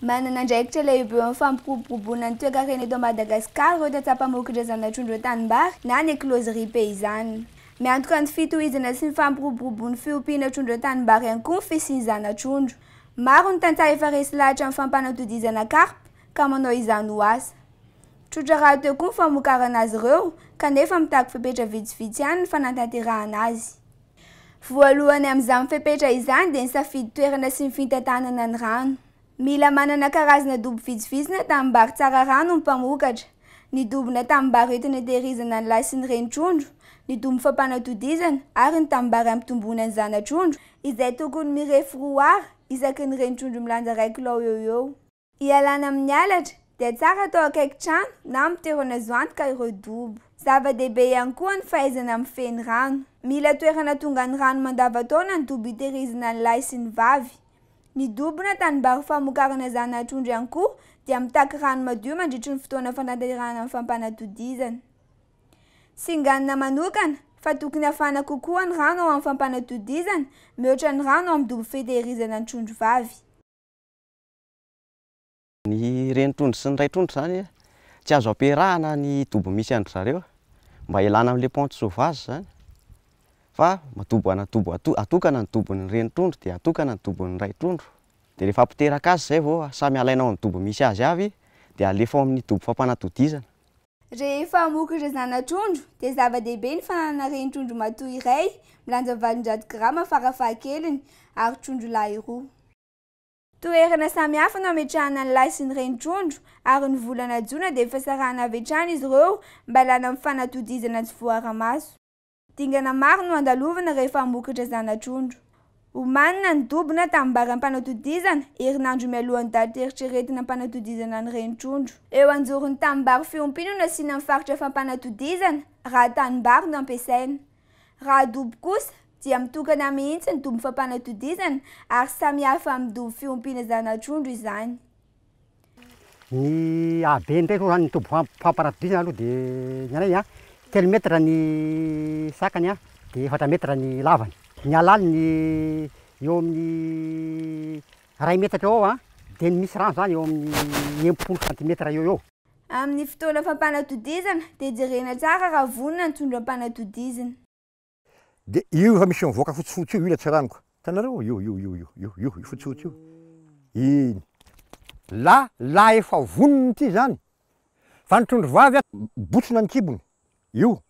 Manana andraikitra lehibe eo amin'ny fampiroboroboana ny toekarena eto Madagasikara ireo tantsaha mpamoky ireo zana-trondro eo an-tanimbary na ny closerie paysanne. Miantoka ny fitohizana sy ny fampiroboroboan'ny fiompiana trondro eo an-tanimbary ihany koa ny fisian'ny zana-trondro. Maro ny tantsaha efa resy lahatra amin'ny fampanatodizana karpa ka manao izany ho asa. Tsotra rahateo koa ny famokarana azy ireo kanefa mitaky fepetra vitsivitsy ihany ny fanatanterahana azy. Voalohany amin'izany fepetra izany dia ny safidy toerana sy ny fintantanana ny rano. Mila manana karazana dobo vitsivitsy na tanimbary tsara rano ny mpamokatra. Ny dobo na tanimbary entina itehirizana ny lahy sy ny reny trondro, ny dobo fampanatodizana ary ny tanimbary ampitomboana ny zana-trondro, izay tokony mirefy roa Ar isaky ny reny trondro milanja iray kilao eo ho eo. Ialana amin'ny halatra, dia tsara atao akaiky trano na amin'ny toerana azo antoka ireo dobo. Zava-dehibe ihany koa ny fahaizana mifehy ny rano. Mila toerana tonga ny rano mandavantaona ny dobo itehirizina ny lahy sy ny vavy. Ny dobo na tanimbary famokarana zana-trondro ihany koa dia mitaky rano madio mandritry ny fotoana fanatanterahana ny fampanatodizana. Singanina manokana fa tokony hafana kokoa ny rano ao amin'ny fampanatodizana mihoatra ny rano ao amin'ny dobo fitehirizana ny trondro vavy. Ny renitrondro sy ny raitrondro izany tsy azo ampiarahana ny dobo misy an-dry zareo mba hilana amin'ilay ponte sauvage izany fa dobo ana- dobo ato- atokana ny dobon'ny renitrondro dia atokana ny dobon'ny raitrondro. Dia rehefa apoteraka azy izay vao samy alaina ao amin'ny dobo misy azy avy dia alefa ao amin'ny dobo fampanatodizana. Rehefa hamoky ireo zanatrondro dia zava-dehibe ny fananana renitrondro matoa iray milanja valonjato grama fara fahakeliny ary trondro lahy roa. Toerana samihafa no ametrahana ny lahy sy ny reny trondro ary ny volana jona dia efa sarahana avy hatrany izy ireo mba lana amin'ny fanatodizana tsy voaara-maso. Dingana maro no andalovina rehefa hamokatra zana-trondro. Omanina ny dobo na tanimbary am-panatodizana herinandro mialohan'ny daty eritreretina am-panatodizana ny reny trondro. Eo anjoron'ny tanimbary fiompiana no asiana ny faritra fampanatodizana raha tanimbary no ampiasaina. Raha dobo kosa, dia mitokana mihitsy ny dobo fampanatodizana ary samihafa amin'ny dobo fiompiana zanatrondro izany. Ny habe indray aloha zany ny dobo fampanatodizana aloha dia ny anay a, telo metatra ny sakany a, dia efatra metatra ny lavany. Ny halaliny eo amin'ny iray metatra eo ho eo a, dia ny misy rano zany eo amin'ny enimpolo santimetatra eo ho eo. Amin'ny fotoana fampanatodizana dia jerena tsara raha vonona ny trondro ampanatodizina. De io efa misy mivoaka fotsifotsy io, io ilay tsiranoka. Hitanareo? Io, io, io, io, io, io, io fotsifotsy io. Iny. La, la efa vonona ity izany. Fa ny trondro vavy a, botsina ny kibony. Io.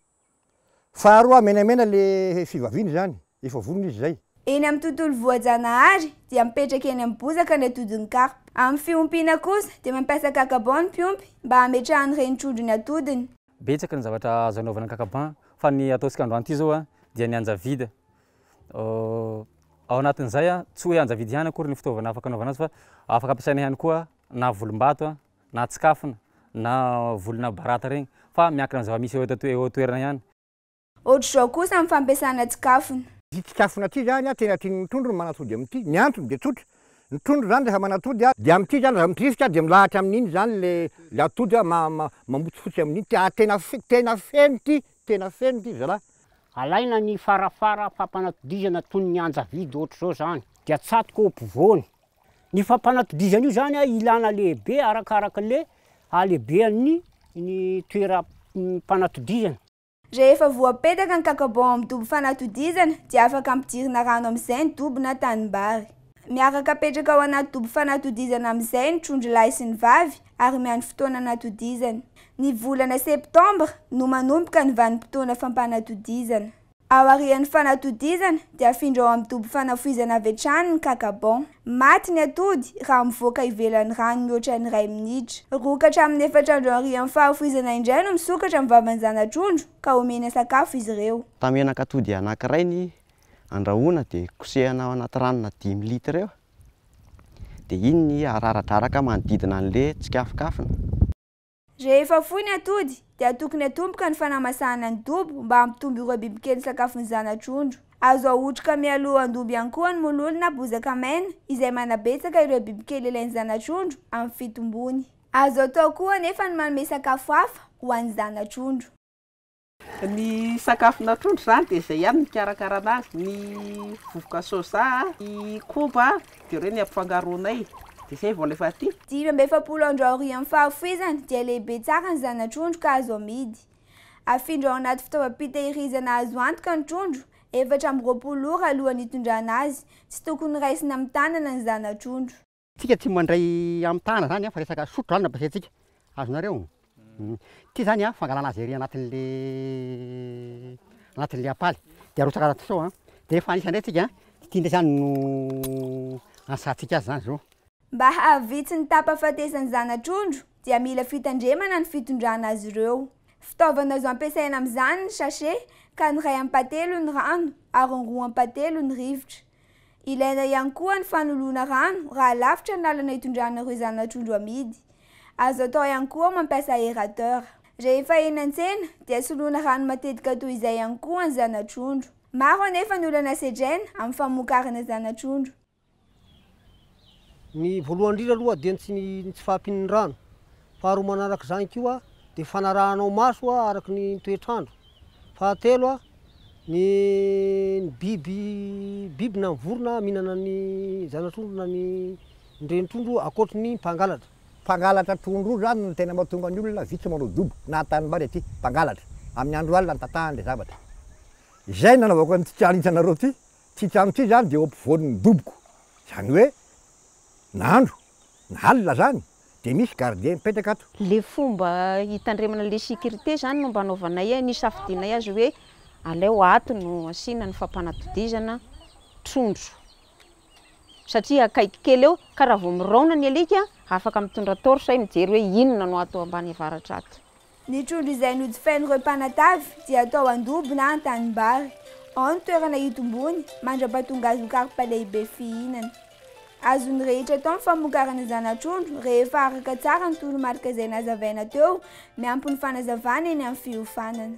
Faharoa, menamena le fivaviany izany. Efa vonona izy izay. Eny amin'ny tontolo voajanahary dia mipetraka eny amin'ny bozaka ny atodin'ny karpa. Amin'ny fiompiana kosa dia mampiasa kakabaon ny mpiompy mba hametrahany ireny trondro ny atodiny. Betsaka ny zavatra azo anaovana ankakampan fa ny ataontsika androany ity zao dia ny anjavidy ao anatin'izay tsy hoe anjavidy ihany akory ny fitaovana afaka anaovana azy fa afaka ampiasaina ihany koa na volombato na tsikafona na volona barata regny fa miankina amin'ny zava-misy eo eo an-toerana ihany. Ohatr'izao kosa ny fampiasana tsikafona. Ity tsikafona ity izany an, tena tian'ny trondro ny manatody amin'ity. Ny antony dia tsotra, ny trondro izany rehefa manatody an, dia amin'ity izany rehefa midrivotra dia milahatra amin'iny izany ilay atody an, mamotsifotsy amin'iny ity ary tena tena feno ity, tena feno ity zalahy. Alaina ny farafara fampanatodizana toy ny anjavidy ohatr'izao izany dia atsatoka eo ampovoany. Ny fampanatodizana io izany an, ilana lehibe arakaraka ilay halehibehan'ny ny toeram-panatodizana. Rehefa voapetaka ny kakabon amin'ny dobo fanatodizana dia afaka ampidirina rano amin'izay ny dobo na tanimbary. Miaraka apetraka ao anaty dobo fanatodizana amin'izay ny trondro lahy sy ny vavy ary miandry fotoana anatodizany. Ny volana septambra no manomboka ny vanim-potoana fampanatodizana. Aorian'ny fanatodizana dia afindra ao amin'ny dobo fanafoizana avy hatrany ny kakabon. Maty ny atody raha mivoaka ivelan'ny rano mihoatra ny iray minitra. Roa ka hatramin'ny efatra andro aorian'ny fahafoizana indray no misokatra ny vavan'ny zana-trondro ka omena sakafo izy ireo. Tamenak'atody anankiray ny andrahoana dia kosehana ao anaty ranona dimy litre eo dia iny ny araradraraka manodidina an'ilay tsikafikafona. Rehefa foy ny atody, dia tokony hatomboka ny fanamasahana ny dobo mba hampitombo ireo bibikely sakafo ny zanatrondro. Azo ahotrika mialoha an-dobo ihany koa ny mololo na bozaka maina, izay manabetsaka ireo bibikely ilain'ny zanatrondro amin'ny fitombony. Azo atao koa anefa ny manome sakafo hafa ho an'ny zanatrondro. Ny sakafo natrondra izany dia izay ihany no hikarakarana azy, ny vovoka soja, ny koba dia ireo no ampifangaroanay dia izay vao alefa aty. Dimy amby efapolo andro aorian'ny fahafoizany dia lehibe tsara ny zana-trondro ka azo amidy. Afindra ao anaty fitaovam-pitehirizana azo antoka ny trondro, efatra amby roapolo ora alohan'ny hitondrana azy, tsy tokony raisina amin'ny tanana ny zana-trondro. Tsika tsy mandray am tana zany fa resaka sotro zany no ampiasaintsika azonareo ty zany a fangalana azy ery anatinle anatinle apaly de arotsaka anaty seau a de refa anisa ndray tsika de ty ndray zany no anisatsika azy zany zo. Mba hahavitsy ny tapafatesan'ny zanatrondro dia mila fitandremana ny fitondrana azy ireo. Fitaovana azo ampiasaina amin'izany ny sachet ka ny iray ampahatelony rano ary ny roa ampahatelony rivotra. Ilaina ihany koa ny fanoloana rano raha lavitra ny lalana itondrana ireo zana-trondro amidy. Azo atao ihany koa mampiasa aérateur. Rehefa eny an-tsena dia soloina rano matetika toy izay ihany koa ny zana-trondro. Maro anefa ny olana sedraina amin'ny famokarana zana-trondro. Ny voalohany indrindra aloha dia ny tsy ny tsy fahampian'ny rano. Faharoa manaraka izany koa dia fanarahanao maso araka ny toetr'andro. Fahatelo ny ny biby biby na ny vorona mihinana ny zana-trondro na ny ny renin-trondro ankoatry ny mpangalatra. Mpangalatra trondro io izany no tena mahatonga ny olona vitsy manao dobo na an-tanimbary aty, mpangalatra. Amin'ny andro alina no tatahany ilay zavatra. Izay no nanaovako an'ity challenge anareo ity Ity trano ity izany dia eo ampovoan'ny doboko, izany hoe na andro na alina izany dia misy gardien mipetraka ato. Ilay fomba hitandremana ilay sécurité izany no mba anaovanay hoe nisafidianay azy hoe aleo ato no asiana ny fampanatodizana trondro satria akaiky kely eo ka raha vao miraona ny alika afaka mitondra torche mijery hoe inona no ato ambany avaratra ato. Ny trondro izay nojifain'ireo mpanatavy dia atao an-dobo na an-tanimbary, ao ny toerana hitombony mandra-pahatonga azy ho karpa lehibe fihinana. Azon'ny rehetra atao ny famokarana zana-trondro rehefa araka tsara ny toromarika izay nazavaina teo, miampy ny fanazavana eny amin'ny fiofanana.